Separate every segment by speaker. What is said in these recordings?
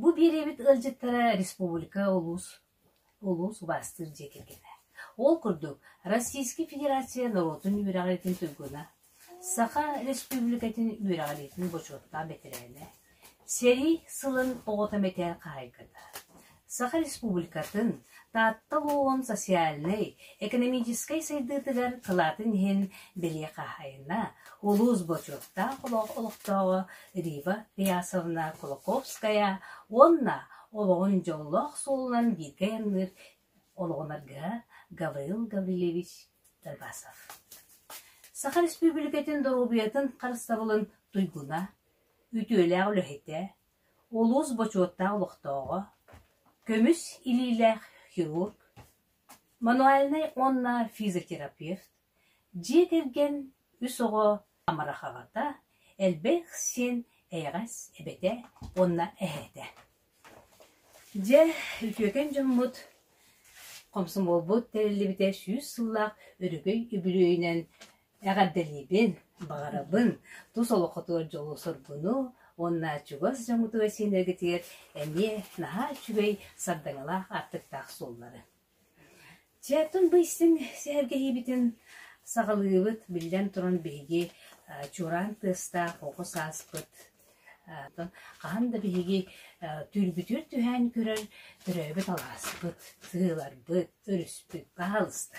Speaker 1: Бу биэриэбит ыалдьыттара республика улуус улуус убаастыыр дьиэ кэргэнэ. Ол курдук, Российскай Федерация норуотун үөрэҕириитин туйгуна, Саха Республикатын үөрэҕириитин бочуоттаах бэтэрээнэ, сэрии сылын оҕото мэтээл хаһайката, Саха Республикатын, Таатта олоҕун социальнай, экэнэмиичэскэй сайдыытыгар кылаатын иһин бэлиэ хаһаайына, улуус бочуоттаах олох олохтооҕо Рива Пиясовна Кулаковская уонна олоҕун дьоллоох суолунан бииргэ айанныыр олоҕунарга Гаврил Гаврильевич Тарбасов. Саха Республикатын доруобуйатын харыстабылын туйгуна, үтүөлээх үлэһитэ, Улуус бочуоттаах олохтооҕо, көмүс илиилээх хирург, мануальнай уонна физиотерапевт, дьиэ кэргэн үс оҕо амарахаҕата, элбэх син эйэҕэс эбэтэ уонна эһээтэ. Дьэ, үтүөкэн дьоммут, комсомолбут тэриллибитэ сүүс сыллаах өрөгөй үбүлүөйүнэн Эҕэрдэлиибин, баҕарабын тус олоххутугар дьолу-соргуну уонна чугас дьоҥҥутугар сиэннэргитигэр эмиэ наһаа үчүгэй сардаҥалаах аартыктаах суоллары. Чэ, тун бу истиҥ сэһэргэһиибитин саҕалыыбыт, биллэн туран биһиги чуораан тыастаах оҕус ааспыт хаһан да биһиги түүлбүтүгэр түһээн көрөр төрөөбүт алааспыт, сыһыыларбыт, өрүспүт хаһалыста.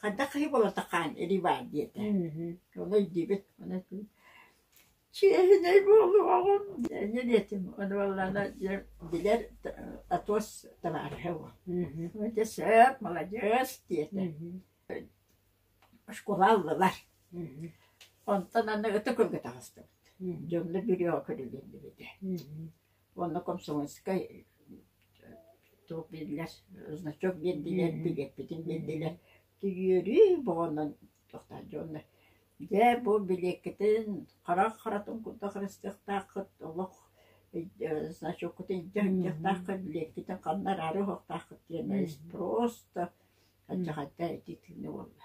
Speaker 1: Хайдах киһи буолатахаан Ривар диэтэ. Ол өйдүүбүт. Ону чиэһинэй буолуоҕум диэнэ диэтим. Ону буоллаана дьэ билэр Атос табаарыһа уол. Дьэ сөп, маладьыас диэтэ. Оскуола ыллылар. Онтон аны ытык ылга таҕыстыбыт. Дьонно бүрүөҕэ көрүлүннүбүтэ. Уонна комсомольскай туох биэрдилэр, значок биэрдилэр, билиэппитин биэрдилэр. Түйүөрү боҕонон тохтоот дьоннор Дьэ, бу билиэккитин харах харатын курдук харыстыахтааххыт, олох значоккутун илдьэ сылдьыахтааххыт, билиэккитин ханна араары уһуохтааххыт диэн спрос да, алдьархайда итии тыыны буолла.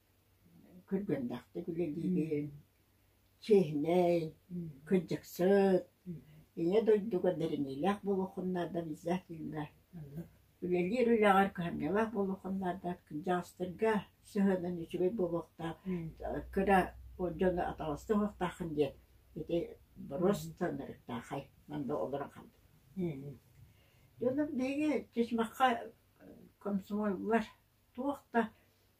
Speaker 1: Күргүөннээхтик үлэлиибин, чиэһинэй, кырдьыксыт, Ийэ дойдуга дириҥиилээх буолуоххун наада обязательно. Үлэлиир үлэҕэр кыһамньылаах буолуоххун наада, кырдьаҕастарга сыһыанын үчүгэй буолуохтаах, кыра дьону атаҕастыы уһуохтааххын диэн ити боруос таҥнарыктаахай манна олорон хаалбыт. Дьону биһиги Чычмахха комсомоллар туох да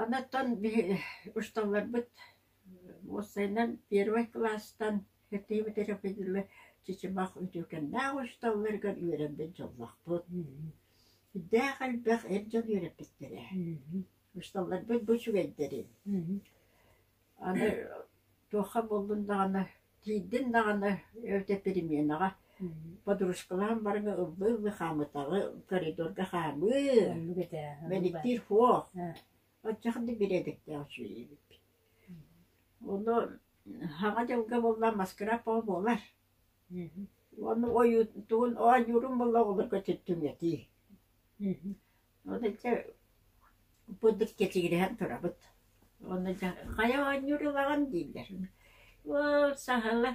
Speaker 1: Оттон усталарбыт уопсайынан первый кылаастан кэттии бүтэрэ чычымах үтүөкэннээх усталарыгар үөрэрбит дьоллоохпут. Сүрдээх элбэх эр дьон үөрэппиттэрэ. Усталарбыт бу үчүгэйдэрин Аны туохха буллун даҕаны, тиийдин даҕаны эбэтэ переменаҕа подружкалаан барыҥа ыллыы-ыллыы хаамытаҕы, коридорга хаамыы, Оннук этэ. оннук мэниктиир фох, оччох да бириэдиктээх үчүгэйбиппит. Ону саҥа дьылга булла маскарап оҕо буолар. Мгм. Уонна ойуутугун оонньуурун булла оҕолорго түҥэтии. Мгм. Курдук кэчигирэһэн турабыт. Уонна дьэ «Хайа оонньуур ылаҕын?» дииллэр. «Уол саһыла»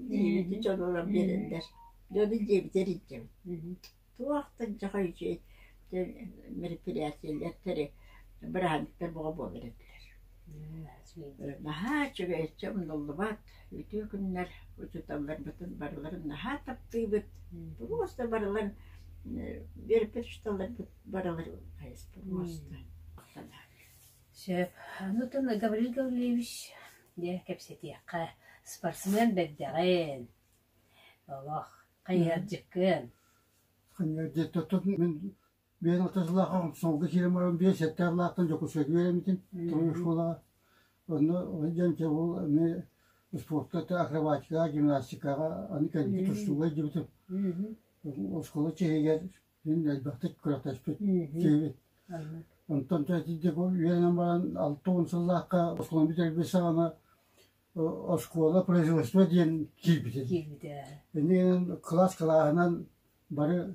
Speaker 1: диэбити дьонуран биэрэллэр. Дьону дьиэбитэ илдьэбит. Туох да дьохой үчүгэй мероприятиелар быраһаанньыктар бөҕө буолар этилэр Наһаа үчүгэйчэ умнуллубат, үтүө күннэр учууталларбытын барыларын наһаа таптыыбыт, просто барыларын биэрбит учууталларбыт барыларын хайыспыт муоста. Сөп. Нутун Гаврил Гаврилович, дьэ кэпсэтиэххэ. Спортсмен бэрдэҕин. Олох хайыһардьыккын. Конечно, тутун мин Биэс алта сыллаахха Хомсолго киирэн баран биэс сэттээх лаахтан Дьокуускайга үөрэммитим, тулуйуур школаҕа. Онно дьэн дьэ ол эмиэ спортка, акробатикаҕа, гимнастикаҕа аны кэлбит тустууга илдьибитим. Оскуола чиһигэр мин элбэхтик күрэхтэспит киһибин. Онтон итинник үөрэнэн баран алта уон сыллаахха оскуоланы бүтэрбит саҕана оскуола производство диэн киирбитим. Киирбитэ. Иннинэн кылаас кылааһынан бары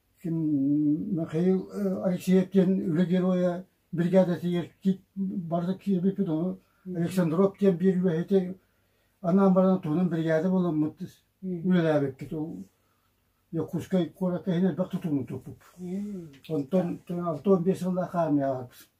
Speaker 1: Ким Михаил Алексеев диэн үлэ геройа биригээдэтигэр барыта киирбиппит ону Александров диэн биир үлэһити анаан баран туһунан биригээдэ буоламмыт үлэлээбиккит ол Дьокуускай куоракка иһин элбэх тутууну туппуппут. Онтон алтан биэс сыллаах хаармыйаҕа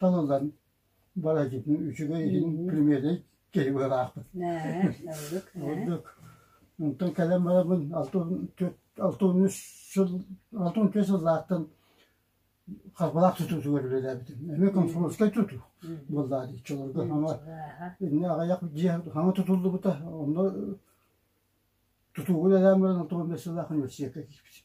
Speaker 1: Талылан балачытын үчүгэй иһин премиэни киһи быһаахпыт. Нээ, ордук. Ордук. Онтон кэлэн барабын алты алты он үс сыл алты он үс сыллаахтан харбалаах тутуутугар үлэлээбитим. Эмиэ комсомольскай тутуу буоллаа дии чолорго. Инне аҕыйах дьиэ хаҥа тутуллубута. Онно тутуугу үлэлээн баран алты он бес сыллаах университекка киирбитим.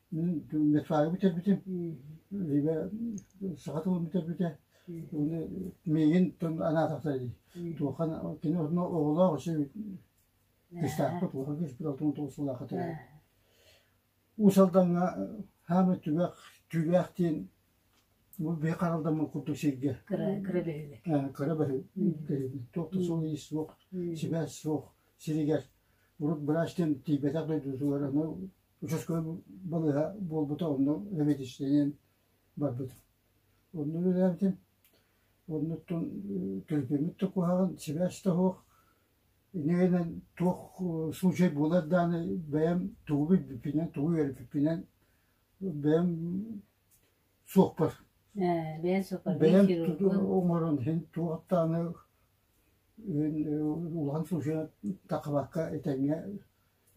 Speaker 1: Медфага бүтэрбитим, либо саха тылын бүтэрбитэ уонна миигин тыл анаа тахсар дии. Туохха кини онно оҕолоох үсүбүт кыстаахха туоха киспит алтын тоҕус сылаахха төрөбүт. Уус Алдаҥҥа хаамай түгэх түгэх диэн бу бэйэ харалдаммын курдук сиргэ. Кыра кыра бөһүлэк. Кыра бөһү. Туох да суол иис суох, сибээс суох сиригэр урут быраачтан тиийбэтэх дойдутугар аны Учуоскабын балыыһа буолбута, онно мэтичинэн барбытым. Онно үлэлээбитим. Оннуттан төлөпүөммүт да куһаҕан, сибээс да суох. Инньэ гынан туох случай буолар даҕаны бэйэм тугу билбиппинэн, тугу үөрбүппүнэн бэйэм суохпар. Ээ, бэйэҥ суохпар, бэйэм оҥорон иһин туохтааны улахан случайга тахыбакка этэҥҥэ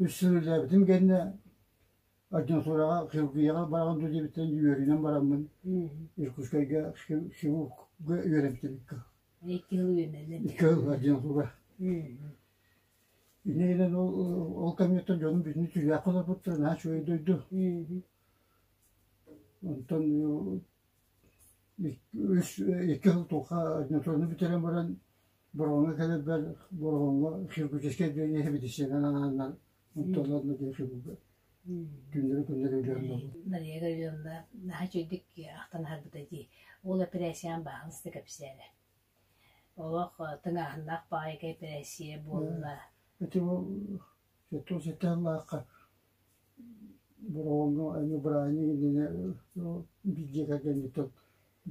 Speaker 1: үс сыл үлэлээбитим кэннэ адъютураҕа хирургияҕа бараҕын дуу диэбиттэн үөрүүнэн бараммын Иркутскайга хирургга үөрэмтибиккэ икки сыл үөрэнэллэр икки сыл адъютура иннинэн ол ол кэмҥиттэн дьонум бүтүнү түүлээх холоппуттар наһаа үчүгэй дойду онтон үс икки сыл туохха адъютураны бүтэрэн баран Бороҕоҥҥо кэлэрбэр Бороҕоҥҥо хирургическай отделение медицинанан аанынан оттоллон диэн хирурга түүннэри-күннэри үлэһиннэбит. Мария Гавриловна наһаа үчүгдүк ахтан аһарбыта дии. Ол эпэрээссийэҕин бааһынаста кэпсээнэ. Олох тыҥааһыннаах баайга эпэрээссийэ буолла. Ити бу тоҕус сэттэ сыллаахха Бороҕоҥҥо эмиэ бырааһынньык иннинэ биир дьиэ кэргэниттэн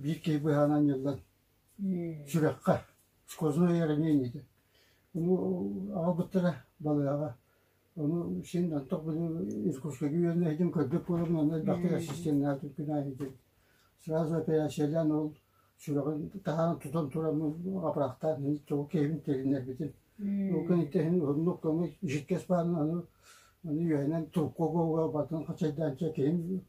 Speaker 1: биир киһи быһаанан анньыллан сүрэххэ, сквозное ранение Ону аҕалбыттара балыаҕа. Ону син антох били Иркутскайга үөрэнэһитим, көрбүт буолабын, онно элбэхтик ассистеннаатым, күнээһитим. Сразу операциялаан ол сүрэҕин таһаан тутан туран апрахтаан тоҕу киһибин тилиннэрбитим. Ол кэниттэһин уһуннук көмүс, жидкэс баарын аны аны үөһэнэн трубкаға уга батан хачайдаанча киһим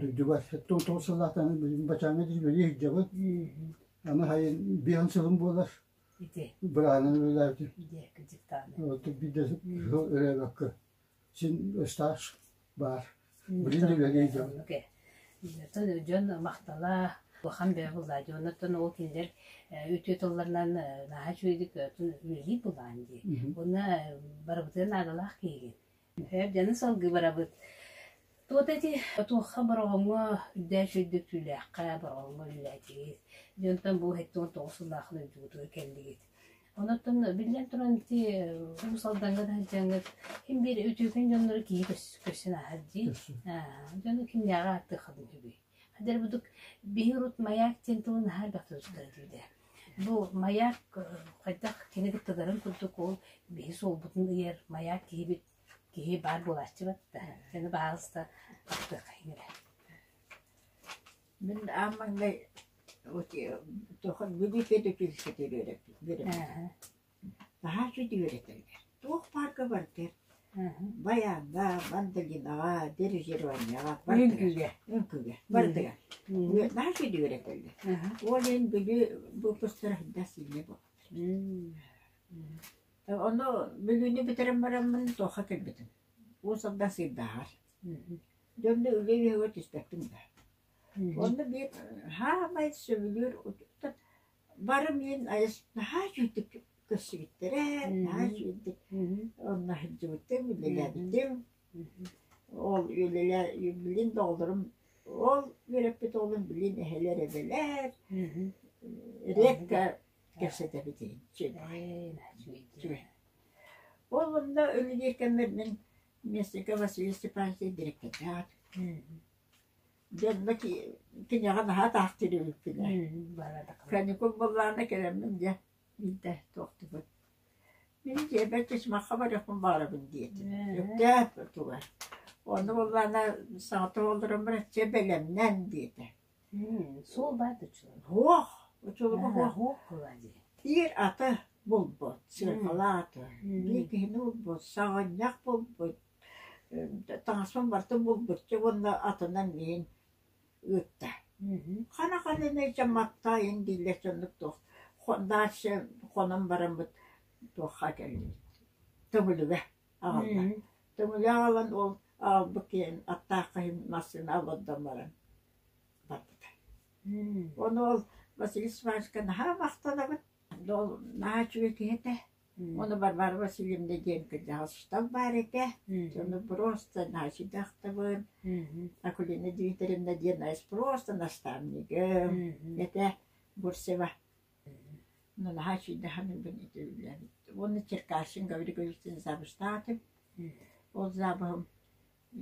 Speaker 1: Дойдуга тоҕо сыллаатаҕын билигин бачааҥҥа дьиибэлии сылдьабыт. Аны сайын биэс сылым буолар. Ити. Быраанан үлэлээбитим. Ити, кыдьыктааны. Оттон биирдэ сыл өрөөбөккө. Син стаж баар. Билигин үлэлии сылдьабыт. Оттон дьон махтала улахан бэйэ булаа. Оннуттан ол кинилэр үтүө тылларынан наһаа үчүгэйдик үлэлии булаан дии. Уонна барыбытын наадалаах киһигин. Эр дьону салгыы барабыт. Туох ити туохха Бороҕоҥҥо үрдээх өйдөтүүлээххэ Бороҕоҥҥо үлэлээтигит. Дьэ онтон бу сэттиэн тоҕус сыллаах дойдугутугар кэллигит. Онуттан биллэн туран ити Уус Алдаҥҥа да сылдьаҥҥыт ким биир үтүөкэн дьоннору киһи көрс- көрсөн ааһар дии. Көрсүн. Аа, дьону кимнээҕи ааттыаххытын сөбүй? Хадэр-будук биһи урут маяк диэн тылы наһаа элбэхтик тутуктара диирэ. Бу маяк хайдах кинигит тыгарын курдук ол биһи суолбутун ыйар маяк киһибит киһи баар буолааччыбыт да аны баҕаалыста таптыаххайын эрэ Мин аам маҥнай туохха бүлүү кэдэ килсэтэ үөрэппит үөрэммитим Наһаа үчүгэй этэргэр, туох паарка барытыгар байааҥҥа, мандолинаҕа, дирижерованияҕа барытыгар, үҥкүүгэ барытыгар наһаа үчүгэй этэллэр. Ол иһин били выпустара хайдах сильнее буолар. Ону бүгүнү бүтэрэн бараммын туохха кэлбитим. Уус-Алдан Сыырдааҕар. Дьонно үлэ үөһүгэр түспэттим да. Онно биир хаамай сөбүлүүр Барым иһин наһаа үчүгэйдик көрсүбүттэрэ, наһаа үчүгэйдик умнаһыдьыбытым, үлэлээбитим. Ол үлэлээ- билигин да оҕолорум ол үөрэппит оҕолорум билигин эһэлэр эбэлэр. Редко кэпсэтэбит иһин үчүгэй. Үчүгэй. Ол онно үлэлиир кэммэр мин Местников Василий Степанович диэн дириэктэрдээх Дьонно киниэхэ наһаа атаахтыыр эбиппинэ каникул буоллаҕына кэлэммин дьэ биирдэ туохтубут мин дьиэбэр тюрьмаҕа барыахпын баҕарабын диэтим сөптөөх туга онно буоллаҕына саҥата олорон бачча бэлэмнэн диэтэ суол баар да учулуга суох учулуга суох биир аты булбут сыаркалаах аты биир киһини булбут саҕынньах булбут таҥаспын барытын булгуччу уонна атынан миин ыытта. Хана ханынаича маттаайын дииллэр дьоннук туох дальше хонон бараммыт туохха кэллибит Төҥүлүгэ аҕалла. Төҥүлү аҕалан ол аҕалбыт киһин аттаахха иһин массыына олордон баран барбыта. Ону ол Василий Степановичка наһаа махтанабыт. Ол наһаа үчүгэй киһи этэ. Ону Варвара Васильевна диэн кырдьаҕас устав баар этэ, дьону просто значит ахтабын, Акулина Дмитриевна диэн айс просто наставнигым этэ Бурцева. Ну наһаа сүйдэхэнибин ити үлэбит. Уонна Черкасин Гаврил Гаврилович запустаатым. Ол запыһым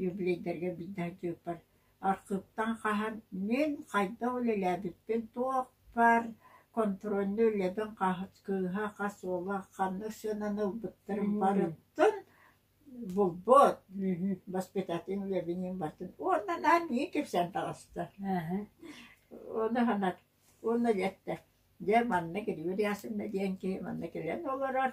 Speaker 1: Юбилейдарга биирдэ архыыптан хаһан мин хайдах үлэлээбиппин, туохпар контрольнуу үлэбин кыыһа, хас уола ханнык сыананы ылбыттарын барытын булбут, воспитательнай үлэбиниин бардым. Уонна наһаа кэпсээн таҕыста. Уонна санаат, уонна эттэ, дьэ манна Григорий Асовна диэн киһи манна кэлэн олорор,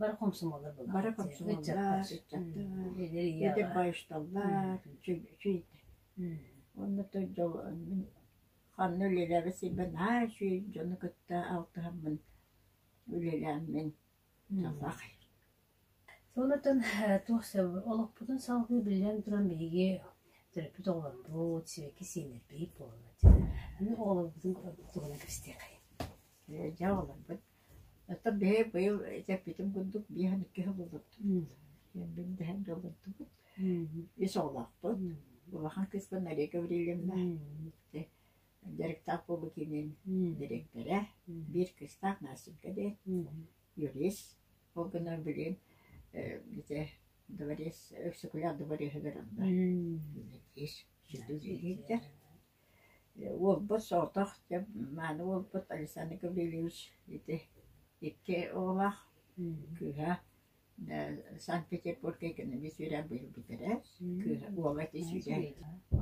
Speaker 1: Бары комсомоллар буолар. Бары комсомоллар, ыччаттар, байышталлар, чүй. Онно тойдол ханна үлэлээбит сирбин аар сүй дьону кытта алтыһаммын үлэлээммин талах. Ол отон туох сөбүй, олохпутун салгыы биллэн туран биһиги төрөппүт оҕолорбут сибэкки сииннэрбит буоллар аны оҕолорбутун куруук кэбистиэхэй. Ээ дьэ оҕолорбут оттон биһи быйыл этэппитим курдук биэс уон икки сыл олордубут. Биллэһэн да олордубут. Ис оҕолоохпут. Улахан кыыспын Нария Гаврильевна дьарыктаах буолуу киинин дириэктэрэ. Биир кыыстаах Настенька диэн юрист. Ол гынан билигин э, ити дворец, өксөкүлээх дворецыгар онно ис сүтүгириирдэр. Э, Уолбут соҕотох, дьэ, мааны уолбут Александр Гаврильевич ити икки оҕолоох кыыһа э, Санкт-Петербурга экономист үөрэ быйыл бүтэрэр. Кыыһа, уола ити сүүрэ.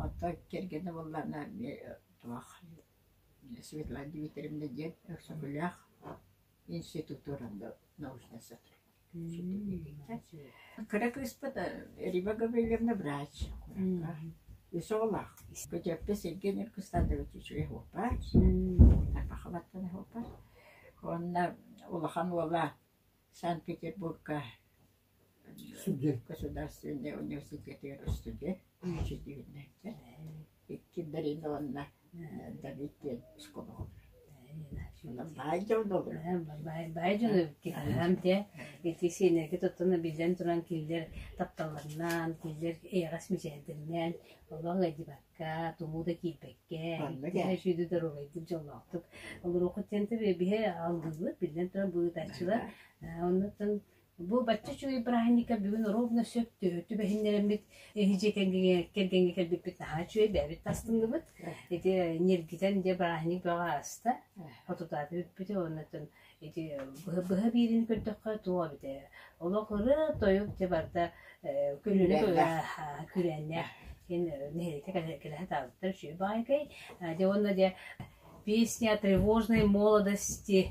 Speaker 1: Оттон кэргэнэ буоллаҕына эмиэ туох Светлана Дмитриевна диэн өксөкүлээх Кыра кыыспыт Риба Гаврильевна врач үс оҕолоох. Көтүөппэ сиргин ир кыстаатыбыт үчүгэй уоппаат. Тарбахалаттан уоппаат. Уонна улахан уола Санкт-Петербурга Сүгүр государственнай университетыгар студент, үөчэтиирнэйтэн Киндарина уонна Давидтиэн оскуолаҕа олорор. Баай дьон олорор. Ити сиэнэргэ тоттоно биллэн туран кинилэр тапталларынан, кинилэр эйэҕэс мичээрдэринэн олох ыйдыбакка, тумуу да киирбэккэ, иккиһэ сүүрүү доруобайдык дьоллоохтук олоруоххут диэн тэбиэ биһи алгыыбыт, биллэн турар, быһыытааччылар. Оннуттан Бу бачча үчүгэй бырааһынньыкка бүгүн ровно сөп тү- түбэһиннэрэммит эһи дьиэ кэргэҥҥэ кэргэҥҥэ кэлбиппит наһаа үчүгэй бэйэбит тастынныбыт ити ньиргитэн дьэ бырааһынньык бөҕө ааста хотутаата бүппүтэ уонна ити быһа быһа биэриини көрдөххө туох эбитэ олох ырыа тойук дьэ барда э, көлүөнэ Күрэннээх. күрээннээх кин нэһилиэккэ кэлэһэ таабыттар үчүгэй баайкай дьэ уонна дьэ песня тревожной молодости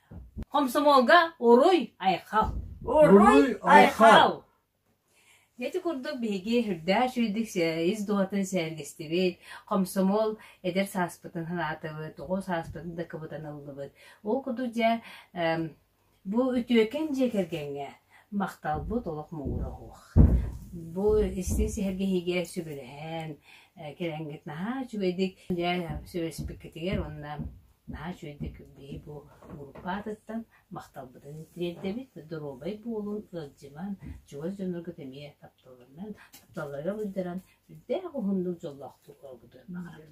Speaker 1: Комсомолга «Уруй, айхал! Уруй, айхал!» Ити курдук биһиги үрдээх сүүрдүк ис дууһатын сэһэргэстибит, комсомол эдэр сааспытын санаатыбыт, оҕо сааспытын да кыбытаныллыбыт. Ол курдук дьэ, бу үтүөкэн дьиэ кэргэҥҥэ махталбыт олох муҥура суох. Бу истиҥ сэһэргэһиигэ сүбэлэһэн, кэлэҥҥит наһаа үчүгэйдик сүбэспиккитигэр уонна наһаа үчүгэйдик биһи бу группа аатыттан махталбытын тириэрдэбит доруобай буолун ыалдьыман чугас дьонноргут эмиэ тапталларынан тапталларга булдаран үрдээх уһуннук дьоллоохтук олорбутун баҕарабын